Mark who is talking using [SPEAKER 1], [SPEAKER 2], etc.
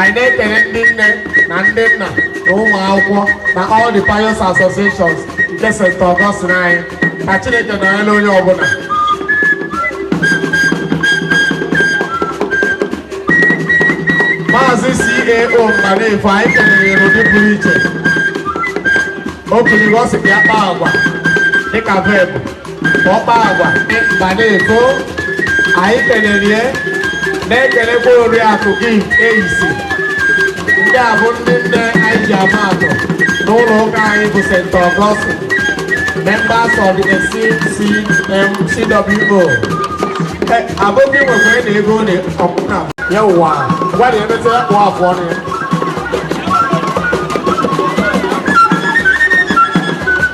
[SPEAKER 1] anyị na-ekele ndị nne na ndị nna na ụmụ akwụkwọ na all the pious associations nke St. Augustine anyị ka Chineke nọnyere onye ọbụla maazị CAO Mbanefo anyị kelere ya n'ụdị pụrụ iche o kuligo ọ sị ka ya kpaa agwa dịka vebụ ọ kpaa agwa Mbanefo anyị kelere ya na-ekelekwa oriakụ gị Eyisi ndị a bụ ndị nne anyị ji ama atụ n'ụlọ ụka anyị bụ St. Augustine members of the CWO abụghị nwekwa na ego na ọkpụna ya ụwa gwa na emeta ya kpụọ afọ ọnụ ya